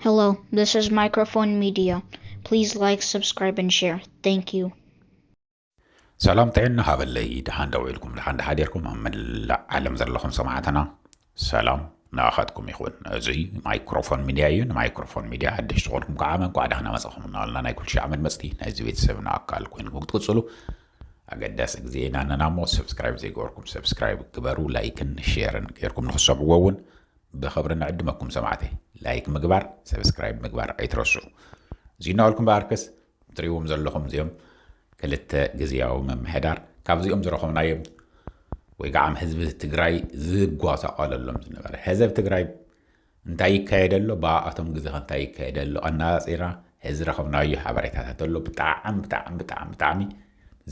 Hello, this is Microphone Media. Please like, subscribe, and share. Thank you. ሰላም ጥዕና ሃበለይ ድሓን ደው ኢልኩም ድሓን ድሓዲርኩም ኣብ መላእ ዓለም ዘለኹም ሰማዕትና ሰላም ንኣኻትኩም ይኹን እዙይ ማይክሮፎን ሚድያ እዩ ንማይክሮፎን ሚድያ ሓድሽ ዝኾንኩም ከዓ መንቋዕ ዳህና መፀኹም እናበልና ናይ ኩልሻ ዓመት መፅቲ ናይዚ ቤተሰብ ንኣካል ኮይንኩም ክትቅፅሉ ኣገዳሲ ግዜ ኢና ኣለና እሞ ሰብስክራይብ ዘይገበርኩም ሰብስክራይብ ግበሩ ላይክን ሼርን ገይርኩም ንክሰብዎ እውን ብኽብሪ ንዕድመኩም ሰማዕተይ ላይክ ምግባር ሰብስክራይብ ምግባር ኣይትረስዑ እዚ እናበልኩም በኣርከስ ትሪእዎም ዘለኹም እዚኦም ክልተ ግዝያዊ ምምሕዳር ካብዚኦም ዝረኸብናዮም ወይ ከዓ ህዝቢ ትግራይ ዝጓሳቋለሎም ዝነበረ ህዘብ ትግራይ እንታይ ይካየደ ኣሎ ብኣቶም ግዜ ከ እንታይ ይካየደ ኣሎ ኣነፃፂራ እዚ ረኸብናዮ ሓበሬታታት ኣሎ ብጣዕሚ ብጣዕሚ ብጣዕሚ ብጣዕሚ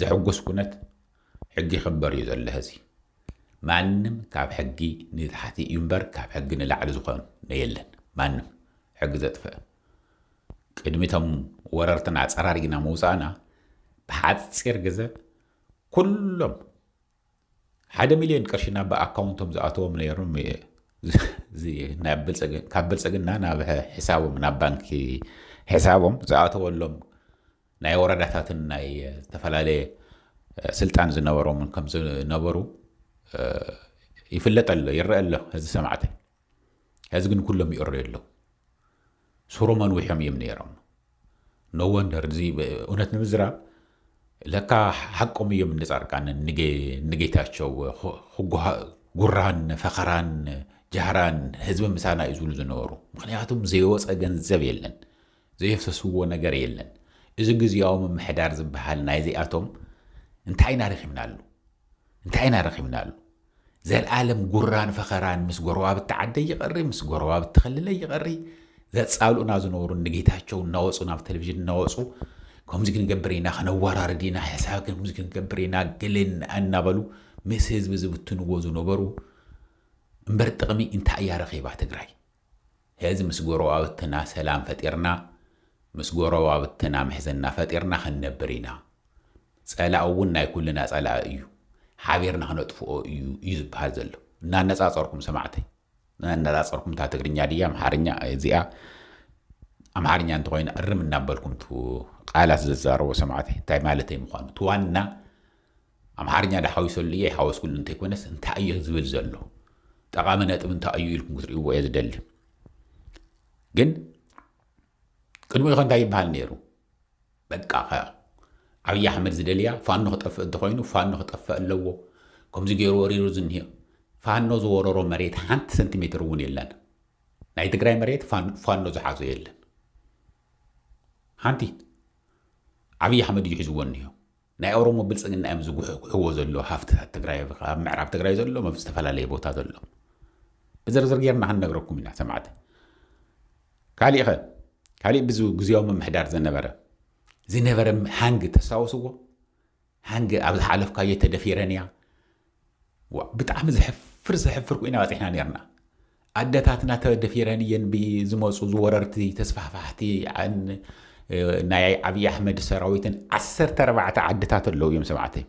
ዘሕጉስ ኩነት ሕጊ ይኽበር እዩ ዘሎ ሀዚ ማንም ካብ ሕጊ ንታሕቲ እዩ እምበር ካብ ሕጊ ንላዕሊ ዝኾነ የለን ማንም ሕጊ ዘጥፈእ ቅድሚ እቶም ወረርትና ኣፀራሪግና ምውፃእና ብሓፂር ግዘ ኩሎም ሓደ ሚልዮን ቅርሺ ናብ ኣካውንቶም ዝኣተዎም ነይሮም ካብ ብልፅግና ናብ ሕሳቦም ናብ ባንኪ ሕሳቦም ዝኣተወሎም ናይ ወረዳታትን ናይ ዝተፈላለየ ስልጣን ዝነበሮምን ከም ዝነበሩ ይፍለጥ ኣሎ ይረአ ኣሎ ሕዚ ሰማዕተይ ሕዚ ግን ኩሎም ይእረዩ ኣለዉ ሱሮም ኣንዊሖም እዮም ነይሮም ኖወንደር እዚ እውነት ንምዝራብ ለካ ሓቆም እዮም ንጻርቃንን ንጌታቸው ጉራን ፈኸራን ጃህራን ህዝቢ ምሳና እዩ ዝብሉ ዝነበሩ ምክንያቱም ዘይወፀ ገንዘብ የለን ዘየፍሰስዎ ነገር የለን። እዚ ግዝያዊ ምምሕዳር ዝበሃል ናይዚኣቶም እንታይ ኢና ረኺብናሉ? እንታይ ኢና ረኺብናሉ? ዘልኣለም ጉራን ፈኸራን ምስ ጎረባብቲ ዓደይ ይቐሪ፣ ምስ ጎረባብቲ ክልለይ ይቐሪ፣ ዘጻልኡና ዝነበሩ እኒ ጌታቸው እናወጹ ናብ ቴሌቪዥን እናወጹ ከምዚ ክንገብር ኢና፣ ከነወራርድ ኢና፣ ሕሳብ ከምዚ ክንገብር ኢና ገለ እናበሉ ምስ ህዝቢ ዝብትንዎ ዝነበሩ እምበር ጥቕሚ እንታይ እያ ረኺባ ትግራይ? ሐዚ ምስ ጎረባብትና ሰላም ፈጢርና ምስ ጎረባብትና ምሕዝና ፈጢርና ክንነብር ኢና ፀላኢ እውን ናይ ኩልና ፀላኢ እዩ ሓቢርና ክነጥፍኦ እዩ እዩ ዝብሃል ዘሎ እናነፃፀርኩም ሰማዕተይ እናነፃፀርኩም እታ ትግርኛ ድያ ኣምሓርኛ እዚኣ ኣምሓርኛ እንተኮይኑ እርም እናበልኩም ቃላት ዘዛረቦ ሰማዕተይ እንታይ ማለተይ ምኳኑ እቲ ዋና ኣምሓርኛ ዶ ሓዊሰሉ እየ ኣይሓወስኩሉን እንተይኮነስ እንታይ እዮ ዝብል ዘሎ ጠቓሚ ነጥቢ እንታይ እዩ ኢልኩም ክትርእይዎ እየ ዝደሊ ግን ቅድሚኡ ከ እንታይ ይበሃል ነይሩ በቃ ከ ኣብዪ ኣሕመድ ዝደልያ ፋኖ ክጠፍእ እንተኮይኑ ፋኖ ክጠፍእ ኣለዎ ከምዚ ገይሩ ወሪሩ ዝኒሄ ፋኖ ዝወረሮ መሬት ሓንቲ ሰንቲሜትር እውን የለን ናይ ትግራይ መሬት ፋኖ ዝሓዞ የለን ሓንቲ ዓብዪ ኣሕመድ እዩ ሒዝዎ እኒሆ ናይ ኦሮሞ ብልፅግና እዮም ዝጉሕጉሕዎ ዘሎ ሃፍትታት ትግራይ ኣብ ምዕራብ ትግራይ ዘሎ ኣብ ዝተፈላለየ ቦታ ዘሎ ብዝርዝር ጌርና ክንነግረኩም ኢና ሰማዕቲ ካሊእ ኸ ካሊእ ብዚ ግዜያዊ ምምሕዳር ዝነበረ ዝነበረ ሃንግ ተስታወስዎ ሃንግ ኣብ ዝሓለፍካዮ ተደፊረን እያ ዋእ ብጣዕሚ ዘሕፍር ዘሕፍር ኮይና በፂሕና ነርና ኣደታትና ተደፊረን እየን ብዝመፁ ዝወረርቲ ተስፋሕፋሕቲ ናይ ዓብዪ ኣሕመድ ሰራዊትን ዓሰርተ ኣርባዕተ ዓድታት ኣለዉ እዮም ሰማዕተይ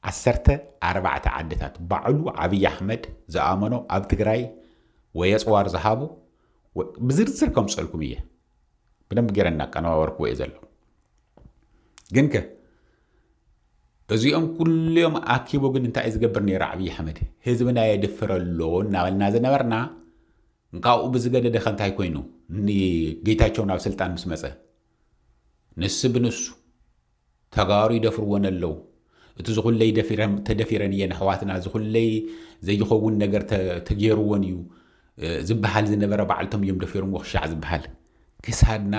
ዓሰርተ ኣርባዕተ ዓድታት ባዕሉ ዓብዪ ኣሕመድ ዝኣመኖ ኣብ ትግራይ ወይ ኣፅዋር ዝሃቡ ብዝርዝር ከምፀልኩም እየ ብደንብ ገይረ እናቀነባበርክዎ እየ ዘለኹ ግን ከ እዚኦም ኩሉዮም ኣኪቡ ግን እንታይ እዩ ዝገብር ነይሩ ዓብዪ ኣሕመድ ህዝብና የድፍረ ኣሎ እናበልና ዝነበርና ካብኡ ብዝገደደ ከ እንታይ ኮይኑ ንጌታቸው ናብ ስልጣን ምስ መፀ ንሱ ብንሱ ተጋሩ ይደፍርወን ኣለው እቲ ዝኹለይ ደፊረን ተደፊረን እየን ኣሕዋትና ዝኹለይ ዘይኸውን ነገር ተ- ተጌርወን እዩ እ፣ ዝበሃል ዝነበረ ባዕልቶም እዮም ደፊርሞ ክሻዕ ዝበሃል ክሳድና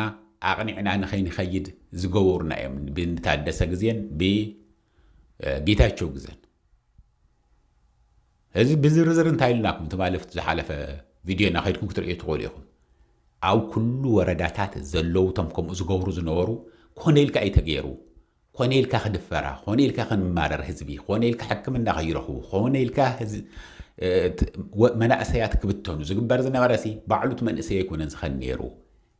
ኣቕኒዕና ንኸይንኸይድ ዝገበሩና እዮም ብንታደሰ ግዜን ብ እ፣ ጌታቸው ግዘን እዚ ብዝርዝር እንታይ ኢልናኩም ትማልፍት ዝሓለፈ ቪድዮና ከድኩም ክትርእዩ ትኽእሉ ኢኹም። ኣብ ኩሉ ወረዳታት ዘለዉ ቶም ከምኡ ዝገብሩ ዝነበሩ ኮነ ኢልካ እዩ ተገይሩ። ኮነ ኢልካ ክድፈራ፣ ኮነ ኢልካ ክንማረር ህዝቢ፣ ኮነ ኢልካ ሕክምና ከይረኽቡ፣ ኮነ ኢልካ መናእሰያት ክብተኑ ዝግበር ዝነበረሲ ባዕሉ እቲ መንእሰይ ኣይኮነን ዝኸን ነይሩ።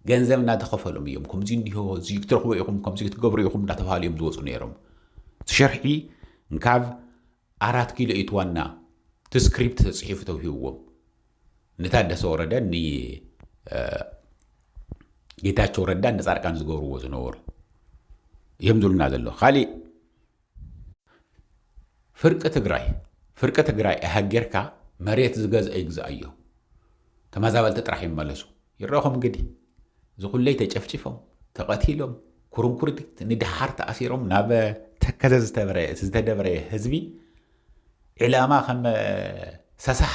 ገንዘብ እናተኸፈሎም እዮም ከምዚ እንዲሆ እዚ ክትረኽቡ ኢኹም ከምዚ ክትገብሩ ኢኹም እናተባሃሉ እዮም ዝወፁ ነይሮም። እቲ ሸርሒ እንካብ ኣራት ኪሎ ኢት ዋና እቲ ስክሪፕት ተፅሒፉ ተውሂብዎም ንታደሰ ወረደን ንጌታቸው ረዳን ንፃድቃን ዝገብርዎ ዝነበሩ እዮም ዝብሉና ዘሎ ካሊእ ፍርቂ ትግራይ ፍርቂ ትግራይ እሃ ጌርካ መሬት ዝገዝአ ይግዝኣዮ ተመዛበልቲ ጥራሕ ይመለሱ ይረኹም ግዲ ዝኹለይ ተጨፍጭፎም ተቐቲሎም ኩርንኩርዲት ንድሓር ተኣሲሮም ናብ ተከዘ ዝተደብረ ህዝቢ ዕላማ ከም ሰሳሕ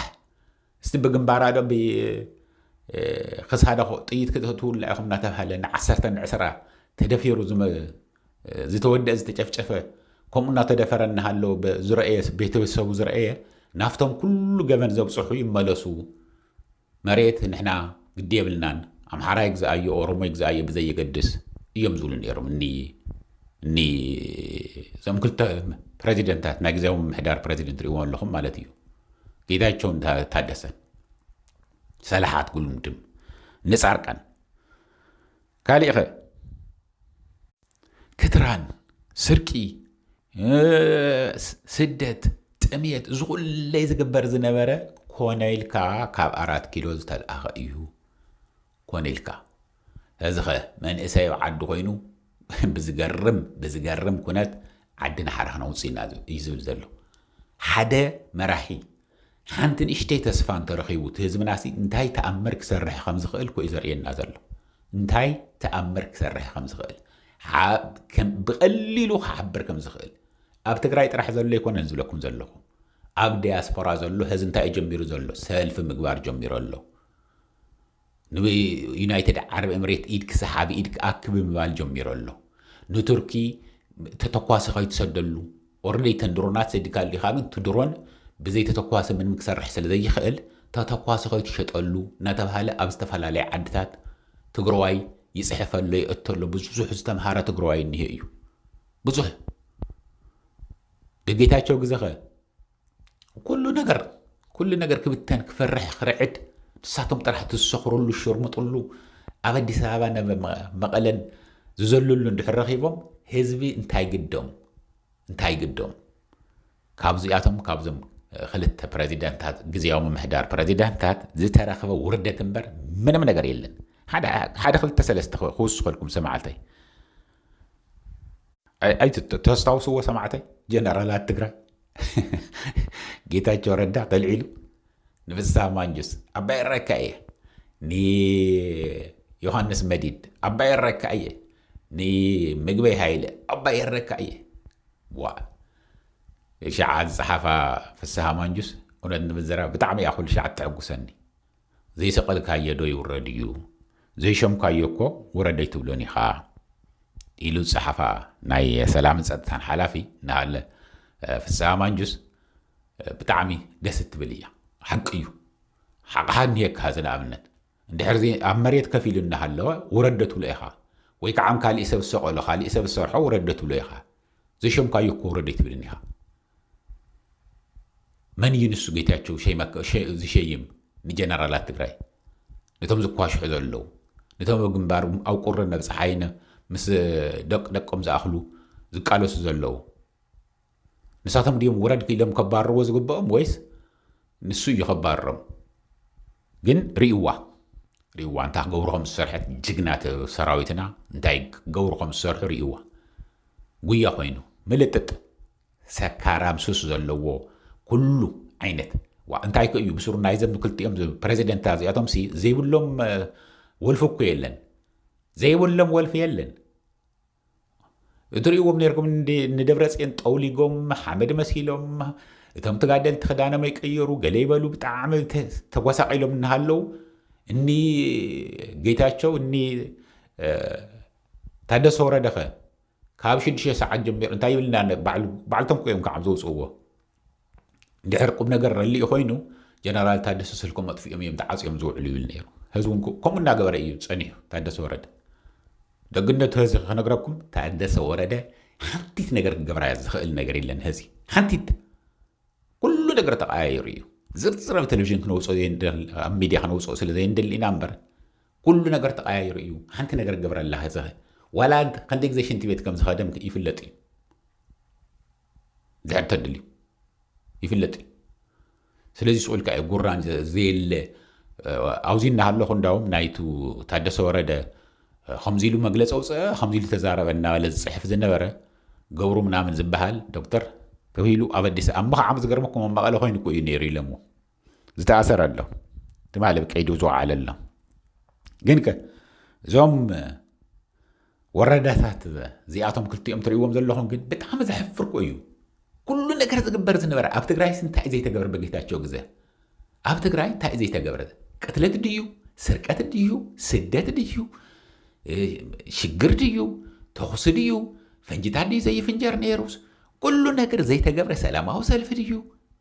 እስቲ ብግንባራ ዶ ክሳዳ ጥይት ክተትውላ ኢኹም እናተባሃለ ንዓሰርተ ንዕስራ ተደፊሩ ዝተወደአ ዝተጨፍጨፈ ከምኡ እናተደፈረ እናሃለወ ዝረአየ ቤተሰቡ ዝረአየ ናፍቶም ኩሉ ገበን ዘብፅሑ ይመለሱ መሬት ንሕና ግዲ የብልናን ኣምሓራ ይግዝኣዮ ኦሮሞ ይግዝኣዮ ብዘየገድስ እዮም ዝብሉ ነይሮም እኒ እኒ እዞም ክልተ ፕረዚደንታት ናይ ግዜያዊ ምምሕዳር ፕረዚደንት ርእዎ ኣለኹም ማለት እዩ ጌታቸውን ታደሰን ሰላሓት ጉልምድም ንፃርቃን ካልእኸ ክትራን፣ ስርቂ፣ ስደት፣ ጥምየት እዚ ኩለይ ዝግበር ዝነበረ ኮነ ኢልካ ካብ ኣራት ኪሎ ዝተልኣኸ እዩ ኮነ ኢልካ እዚ ኸ መንእሰይ ኣብ ዓዲ ኮይኑ ብዝገርም ብዝገርም ኩነት ዓዲ ናሓራ ክነውፅእ ኢና እዩ ዝብል ዘሎ ሓደ መራሒ ሓንቲ ንእሽተይ ተስፋ እንተረኺቡ እቲ ህዝብናሲ እንታይ ተኣምር ክሰርሕ ከም ዝኽእል እኮ እዩ ዘርእየና ዘሎ። እንታይ ተኣምር ክሰርሕ ከም ዝኽእል ብቐሊሉ ክሓብር ከም ዝኽእል ኣብ ትግራይ ጥራሕ ዘሎ ኣይኮነን ዝብለኩም ዘለኹ ኣብ ዲያስፖራ ዘሎ ህዝ እንታይ ጀሚሩ ዘሎ ሰልፊ ምግባር ጀሚሩ ኣሎ ንዩናይትድ ዓረብ ኤምሬት ኢድ ክሰሓብ ኢድ ክኣክ ብምባል ጀሚሩ ኣሎ። ንቱርኪ ተተኳሲ ከይትሰደሉ ኦርለይ ተን ድሮናት ሰዲካ ኣሊኻ ግን እቲ ድሮን ብዘይ ተተኳሲ ምንም ክሰርሕ ስለ ዘይኽእል ተተኳሲ ከይትሸጠሉ እናተባህለ ኣብ ዝተፈላለየ ዓድታት ትግረዋይ ይፅሕፍ ኣሎ ይእቶ ኣሎ ብዙሕ ዝተምሃረ ትግረዋይ እኒሀ እዩ ብዙሕ ደጌታቸው ግዘኸ ኩሉ ነገር ኩሉ ነገር ክብተን ክፈርሕ ክርዕድ ንሳቶም ጥራሕ ዝሰኽርሉ ዝሸርሙጥሉ ኣብ ኣዲስ ኣበባ መቐለን ዝዘልሉ እንድሕር ረኺቦም ህዝቢ እንታይ ግዶም እንታይ ግዶም ካብዚኣቶም ካብዞም ክልተ ፕረዚደንታት ግዜያዊ ምምሕዳር ፕረዚደንታት ዝተረኽበ ውርደት እምበር ምንም ነገር የለን ሓደ ክልተ ሰለስተ ክውስኸልኩም ሰማዕተይ ተስታውስዎ ሰማዕተይ ጀነራላት ትግራይ ጌታቸው ረዳ ከልዒሉ ንፍስሃ ማንጁስ ኣባይ ረካ እየ ንዮሃንስ መዲድ ኣባይ ረካ እየ ንምግበይ ሃይለ ኣባይ ረካ እየ ዋ ሸዓ ዝፀሓፋ ፍስሃ ማንጁስ እውነት ንምዘራ ብጣዕሚ እያ ኩሉ ሸዓ ተዕጉሰኒ ዘይሰቐልካዮ ዶ ይውረድ እዩ? ዘይሾምካዮ እኮ ውረድ ኣይትብሎን ኢኻ ኢሉ ዝጸሓፋ ናይ ሰላምን ጸጥታን ሓላፊ ንኣለ ፍስሃ ማንጁስ ብጣዕሚ ደስ እትብል እያ። ሓቂ እዩ። ሓቕሓ እንሄካ እዚ ንኣብነት እንድሕር ኣብ መሬት ከፍ ኢሉ እናሃለወ ውረድ ዶ ትብሎ ኢኻ? ወይ ከዓ ካሊእ ሰብ ዝሰቐሎ ካሊእ ሰብ ዝሰርሖ ውረድ ዶ ትብሎ ኢኻ? ዘይሾምካዮ እኮ ውረድ ኣይትብልን ኢኻ። መን እዩ ንሱ ጌታቸው ዝሸይም ንጀነራላት ትግራይ ነቶም ዝኳሽሑ ዘለዉ ነቶም ኣብ ግንባር ኣብ ቁርን ኣብ ፀሓይን ምስ ደቂ ደቆም ዝኣኽሉ ዝቃለሱ ዘለዉ ንሳቶም ድዮም ውረድ ኢሎም ከባርርዎ ዝግብኦም ወይስ ንሱ እዩ ከባርሮም ግን ሪእዋ ሪእዋ እንታይ ክገብሩ ከም ዝሰርሐት ጅግና ሰራዊትና እንታይ ክገብሩ ከም ዝሰርሑ ሪእዋ ጉያ ኮይኑ ምልጥጥ ሰካራም ሱስ ዘለዎ ኩሉ ዓይነት ዋ እንታይ ከ እዩ ብስሩ ናይዘም ክልቲኦም ፕሬዚደንት እዚኣቶም ሲ ዘይብሎም ወልፊ እኮ የለን ዘይብሎም ወልፊ የለን እትርእይዎም ነርኩም ንደብረጽዮን ጠውሊጎም ሓመድ መሲሎም እቶም ተጋደልቲ ክዳኖም ይቀየሩ ገለ ይበሉ ብጣዕሚ ተጓሳቂሎም እናሃለው እኒ ጌታቸው እኒ ታደሰ ወረደኸ ካብ ሽዱሽተ ሰዓት ጀሚሩ እንታይ ይብልና ባዕልቶም ኮይም ከዓም ዘውፅእዎ ድሕር ቁም ነገር ረሊኡ ኮይኑ ጀነራል ታደሰ ስልኮም ኣጥፊኦም እዮም ተዓፅዮም ዝውዕሉ ይብል ነይሩ ህዝቢ ከምኡ እናገበረ እዩ ፀኒሑ ታደሰ ወረደ ደግነቱ ህዚ ክነግረኩም ታደሰ ወረደ ሓንቲት ነገር ክገብራ ዝኽእል ነገር የለን ህዚ ሓንቲት ኩሉ ነገር ተቀያየሩ እዩ ዝርዝር ኣብ ቴሌቭዥን ክነውፅኦ ኣብ ሚድያ ክነውፅኦ ስለ ዘየንደሊ ኢና እምበር ኩሉ ነገር ተቀያየሩ እዩ ሓንቲ ነገር ገብረላ ህዚ ዋላ ክንደይ ግዜ ሽንቲ ቤት ከም ዝኸደም ይፍለጥ እዩ ድሕር ተድልዩ ይፍለጥ እዩ ስለዚ ስቁ ኢልካ እዩ ጉራን ዘየለ ኣብዚ እናሃለኹ እንዳውም ናይቱ ታደሰ ወረደ ከምዚ ኢሉ መግለፂ ኣውፅአ ከምዚ ኢሉ ተዛረበ እናበለ ዝፅሕፍ ዝነበረ ገብሩ ምናምን ዝበሃል ዶክተር ተባሂሉ ኣብ ኣዲስ ኣብ ምኽዓብ ዝገርመኩም ኣብ መቐለ ኮይኑ እኮ እዩ ነይሩ ኢለምዎ ዝተኣሰረ ኣሎ ትማሊ ቀይዱ ዝወዓለ ኣሎ ግን ከ እዞም ወረዳታት እዚኣቶም ክልቲኦም ትርእዎም ዘለኹም ግን ብጣዕሚ ዘሕፍር እዩ ኩሉ ነገር ዝግበር ዝነበረ ኣብ ትግራይ እንታይ ዘይተገብረ በጌታቸው ግዘ ኣብ ትግራይ እንታይ ዘይተገብረ ቅትለት ድዩ ስርቀት ድዩ ስደት ድዩ ሽግር ድዩ ተኹሲ ድዩ ፈንጅታት ድዩ ዘይፍንጀር ነይሩስ ኩሉ ነገር ዘይተገብረ ሰላማዊ ሰልፊ ድዩ?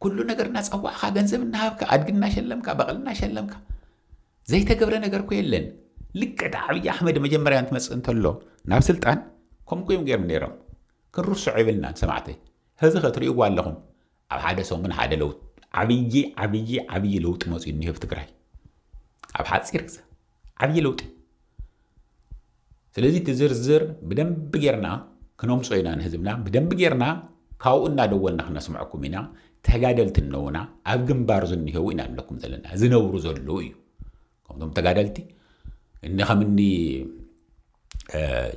ኩሉ ነገር እናፀዋዕኻ ገንዘብ እናሃብካ ኣድጊ እናሸለምካ በቕሊ እናሸለምካ ዘይተገብረ ነገር እኮ የለን። ልክዕ እቲ ዓብዪ ኣሕመድ መጀመርያ እንትመፅእ እንተሎ ናብ ስልጣን ከምኡ እዮም ገይሮም ነይሮም። ክንርስዖ የብልናን ሰማዕተይ። ሕዚ ከ ትሪእዎ ኣለኹም ኣብ ሓደ ሰሙን ሓደ ለውጢ ዓብዪ ዓብዪ ዓብዪ ለውጢ መፂኡ እኒሀ ኣብ ትግራይ ኣብ ሓፂር ግዘ ዓብዪ ለውጢ እዩ። ስለዚ እቲ ዝርዝር ብደንቢ ጌርና ክነምፆ ኢና ንህዝብና ብደንቢ ጌርና ካብኡ እናደወልና ክነስምዐኩም ኢና። ተጋደልቲ እነውና ኣብ ግንባር ዝኒሄው ኢና ንብለኩም ዘለና ዝነብሩ ዘለዉ እዩ ከምቶም ተጋደልቲ እኒ ከምኒ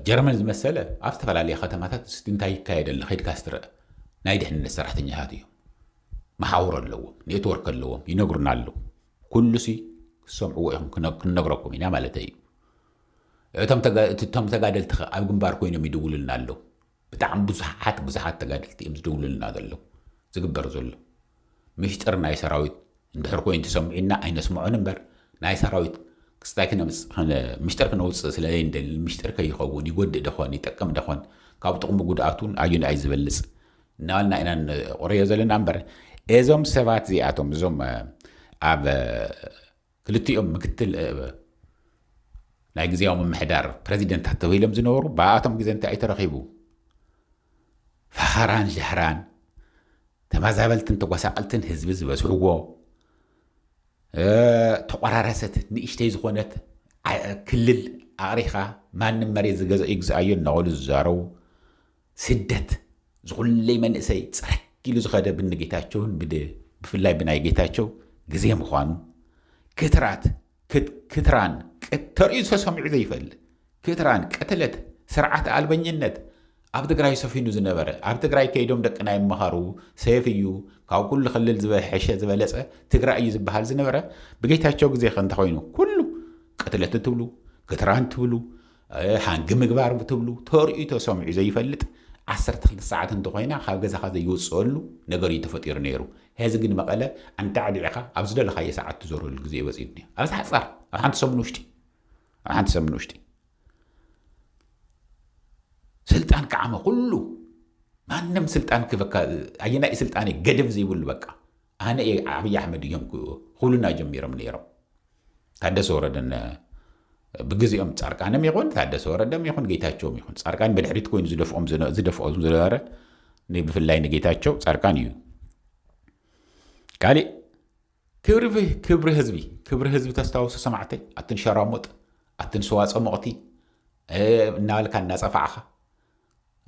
ጀርመን ዝመሰለ ኣብ ዝተፈላለየ ከተማታት እስቲ እንታይ ይካየድ ኣሎ ከድካ ስትረአ ናይ ድሕንነት ሰራሕተኛታት እዮም መሓውር ኣለዎም ኔትወርክ ኣለዎም ይነግሩና ኣለዉ ኩሉሲ ክትሰምዕዎ ኢኹም ክንነግረኩም ኢና ማለተይ እዩ። እቶም ተጋደልቲ ከ ኣብ ግንባር ኮይኖም ይድውሉልና ኣለዉ። ብጣዕሚ ብዙሓት ብዙሓት ተጋደልቲ እዮም ዝድውሉልና ዘለዉ ዝግበር ዘሎ ምሽጥር ናይ ሰራዊት እንድሕር ኮይኑ ተሰሚዑና ኣይነስምዖን እምበር ናይ ሰራዊት ክስታይ ምሽጥር ክነውፅእ ስለ ዘይንደሊ ምሽጥር ከይኸውን ይጎድእ ደኾን ይጠቅም ደኾን ካብ ጥቕሙ ጉድኣቱን ኣዩ ንኣይ ዝበልፅ እናበልና ኢና ንቕርዮ ዘለና እምበር እዞም ሰባት እዚኣቶም እዞም ኣብ ክልቲኦም ምክትል ናይ ግዜያዊ ምምሕዳር ፕረዚደንታት ተባሂሎም ዝነበሩ ብኣቶም ግዜ እንታይ እዩ ተረኺቡ ፈኸራን ሻህራን ተመዛበልትን ተጓሳቐልትን ህዝቢ ዝበዝሕዎ ተቆራረሰት ንእሽተይ ዝኾነት ክልል ኣቕሪኻ ማንም መሬት ዝገዘ ይግዝኣዮ እናበሉ ዝዛረቡ ስደት ዝኹለይ መንእሰይ ጽረግ ኢሉ ዝኸደ ብኒ ጌታቸውን ብፍላይ ብናይ ጌታቸው ግዜ ምዃኑ ክትራት ክትራን ተርእዩ ተሰሚዑ ዘይፈልጥ ክትራን ቅትለት ስርዓት ኣልበኝነት ኣብ ትግራይ ሰፊኑ ዝነበረ ኣብ ትግራይ ከይዶም ደቅና ይመሃሩ ሰፍ እዩ ካብ ኩሉ ክልል ዝበሐሸ ዝበለፀ ትግራይ እዩ ዝበሃል ዝነበረ ብጌታቸው ግዜ ከ እንተኮይኑ ኩሉ ቅትለት ትብሉ ክትራን ትብሉ ሓንጊ ምግባር ብትብሉ ተርእዩ ተሰምዑ ዘይፈልጥ ዓሰርተ ክልተ ሰዓት እንተኾይና ካብ ገዛኻ ዘይወፅኣሉ ነገር እዩ ተፈጢሩ ነይሩ። ሐዚ ግን መቐለ ኣንዳዕዲዕኻ ኣብ ዝደለኻዮ ሰዓት ትዞረሉ ግዜ በፂሑ እኒኦ። ኣብዚ ሓፃር ኣብ ሓንቲ ሰሙን ውሽጢ ኣብ ሓንቲ ሰሙን ውሽጢ ስልጣን ከዓመ ኩሉ ማንም ስልጣን ክበካ ኣየናይ ስልጣን ገደብ ዘይብሉ በቃ ኣነ እየ ዓብይ ኣሕመድ እዮም ክብሉና ጀሚሮም ነይሮም። ታደሰ ወረደን ብግዜኦም ፃርቃንም ይኹን ታደሰ ወረደም ይኹን ጌታቸውም ይኹን ፃርቃን ብድሕሪት ኮይኑ ዝደፍኦም ዝደፍኦ ዝነበረ ብፍላይ ንጌታቸው ፃርቃን እዩ። ካሊእ ክብሪ ክብሪ ህዝቢ ክብሪ ህዝቢ ተስታውሱ ሰማዕተይ ኣትን ሸራሙጥ ኣትን ሰዋ ፀሞቕቲ እናበልካ እናፀፋዕኻ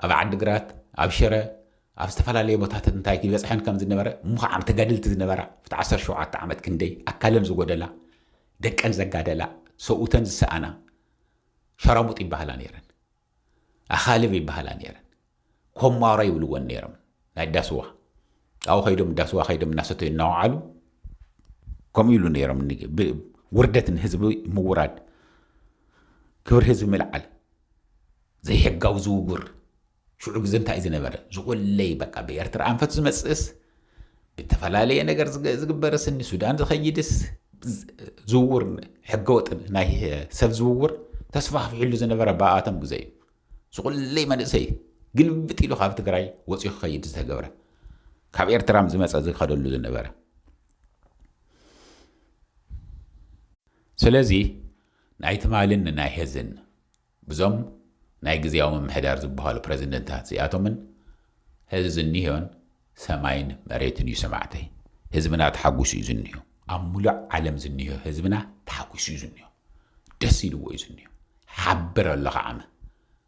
ኣብ ዓዲግራት፣ ኣብ ሽረ፣ ኣብ ዝተፈላለየ ቦታትት እንታይ ይበጽሐን ከም ዝነበረ ምዃዓም ተጋድልቲ ዝነበራ ብቲ ዓሰርተ ሸውዓተ ዓመት ክንደይ ኣካለን ዝጎደላ፣ ደቀን ዘጋደላ፣ ሰብኡተን ዝሰኣና ሸራሙጥ ይበሃላ ነይረን። ኣኻልብ ይበሃላ ነይረን። ኮማራ ይብልወን ነይሮም ናይ ዳስዋ ኣብኡ ከይዶም ዳስዋ ከይዶም እናሰተዩ እናወዓሉ ከምኡ ኢሉ ነይሮም ውርደት ንህዝቢ ምውራድ ክብሪ ህዝቢ ምልዓል ዘይሕጋዊ ዝውውር ሽዑ ግዘ እንታይ እዩ ዝነበረ? ዝቆለይ በቃ ብኤርትራ ኣንፈት ዝመፅእስ ብተፈላለየ ነገር ዝግበርስ ንሱዳን ዝኸይድስ ዝውውር ሕገወጥ ናይ ሰብ ዝውውር ተስፋሕፊሕሉ ዝነበረ ብኣቶም ግዘ እዩ። ዝቆለይ መንእሰይ ግልብጥ ኢሉ ካብ ትግራይ ወፂኡ ክኸይድ ዝተገብረ ካብ ኤርትራ ዝመፀ ዝኸደሉ ዝነበረ ስለዚ ናይ ትማልን ናይ ሄዝን ብዞም ናይ ግዝያዊ ምምሕዳር ዝብሃሉ ፕረዚደንታት እዚኣቶምን ሐዚ ዝኒሆን ሰማይን መሬትን እዩ ሰማዕተይ። ህዝብና ተሓጉሱ እዩ ዝኒሆ። ኣብ ሙሉእ ዓለም ዝኒሆ ህዝብና ተሓጉሱ እዩ ዝኒሆ። ደስ ኢልዎ እዩ ዝኒሆ። ሓብር ኣሎ ከዓመ።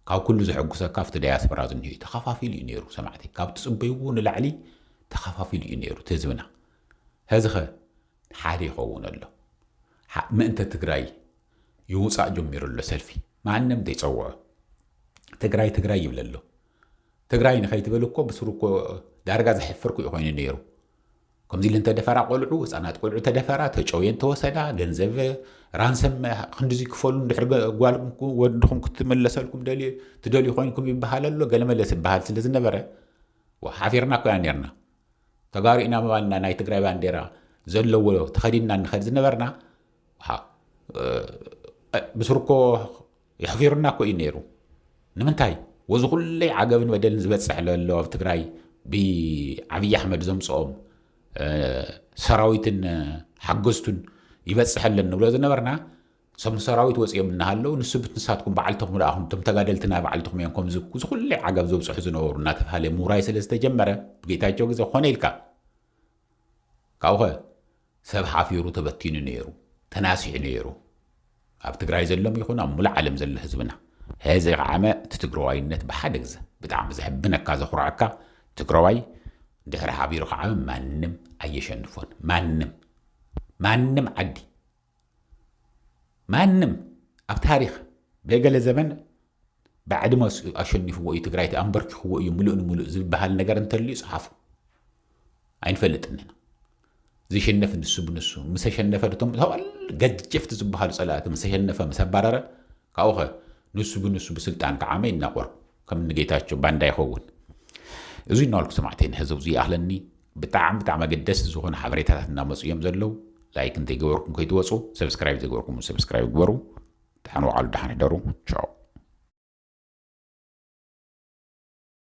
ካብ ኩሉ ዘሐጉሰካ ኣብቲ ዳያስፖራ ዝኒሆ እዩ። ተኸፋፊሉ እዩ ነይሩ ሰማዕተይ። ካብ ትጽበይዎ ንላዕሊ ተኸፋፊሉ እዩ ነይሩ እቲ ህዝብና። ሐዚኸ ሓደ ይኸውን ኣሎ ምእንተ ትግራይ ይውፃእ ጀሚሩ ኣሎ ሰልፊ ማንም ዘይፀውዖ ትግራይ ትግራይ ይብል ኣሎ ትግራይ ንኸይትበል እኮ ብስሩ እኮ ዳርጋ ዘሕፍርኩ እዩ ኮይኑ ነይሩ ከምዚ ኢለን ተደፈራ ቆልዑ ህፃናት ቆልዑ ተደፈራ ተጨውየን ተወሰዳ ገንዘብ ራንሰም ክንዲዚ ክፈሉ ድሕሪ ጓል ወድኹም ክትመለሰልኩም ትደልዩ ኮይንኩም ይበሃል ኣሎ ገለመለስ ይበሃል ስለ ዝነበረ ሓፊርና ኮያ ነርና ተጋሩ ኢና ምባልና ናይ ትግራይ ባንዴራ ዘለዎ ተኸዲንና ንኸድ ዝነበርና ብስርኮ የሕፊሩና እኮ እዩ ነይሩ ንምንታይ ወዚ ኩለይ ዓገብን በደልን ዝበፅሕ ለሎ ኣብ ትግራይ ብዓብዪ ኣሕመድ ዘምፅኦም ሰራዊትን ሓገዝቱን ይበፅሐለን ንብሎ ዝነበርና ሰም ሰራዊት ወፂኦም እናሃለው ንስብት ንሳትኩም በዓልትኹም ረኣኹም እቶም ተጋደልቲ ናይ በዓልትኹም እዮም ከምዚ ዝኩለይ ዓጋብ ዘብፅሑ ዝነበሩ እናተባሃለ ምውራይ ስለ ዝተጀመረ ብጌታቸው ግዜ ኮነ ኢልካ ካብኡኸ ሰብ ሓፊሩ ተበቲኑ ነይሩ ተናሲሑ ነይሩ ኣብ ትግራይ ዘሎም ይኹን ኣብ ሙሉእ ዓለም ዘሎ ህዝብና ሕዚ ከዓመ እቲ ትግራዋይነት ብሓደ ግዘ ብጣዕሚ ዘሕብነካ ዘኹርዐካ ትግራዋይ ድሕሪ ሓቢሩ ከዓመ ማንም ኣየሸንፎን ማንም ማንም ዓዲ ማንም ኣብ ታሪኽ ገገለ ዘበን ብዕድመ ኣሸኒፍዎ እዩ ትግራይቲ ኣንበርኪኽዎ እዩ ምሉእ ንምሉእ ዝበሃል ነገር እንተልዩ ፀሓፉ ኣይንፈልጥን ኢና ዝሸነፍ ንሱ ብንሱ ምስ ተሸነፈ ድቶም ተዋል ገጀፍቲ ዝበሃሉ ፀላእቲ ምስ ተሸነፈ ምስ ኣባረረ ካብኡ ኸ ንሱ ብንሱ ብስልጣን ክዓመ ይናቆር ከም ንጌታቸው ባንዳ ይኸውን እዚ እናበልኩ ሰማዕተይ ንሕዚ ኣብዚ ይኣኽለኒ ብጣዕሚ ብጣዕሚ ኣገደስቲ ዝኾኑ ሓበሬታታት እናመፁ እዮም ዘለው ላይክ እንተይገበርኩም ከይትወፁ ሰብስክራይብ ዘይገበርኩም ሰብስክራይብ ግበሩ ድሓን ዋዕሉ ድሓን ሕደሩ ቻው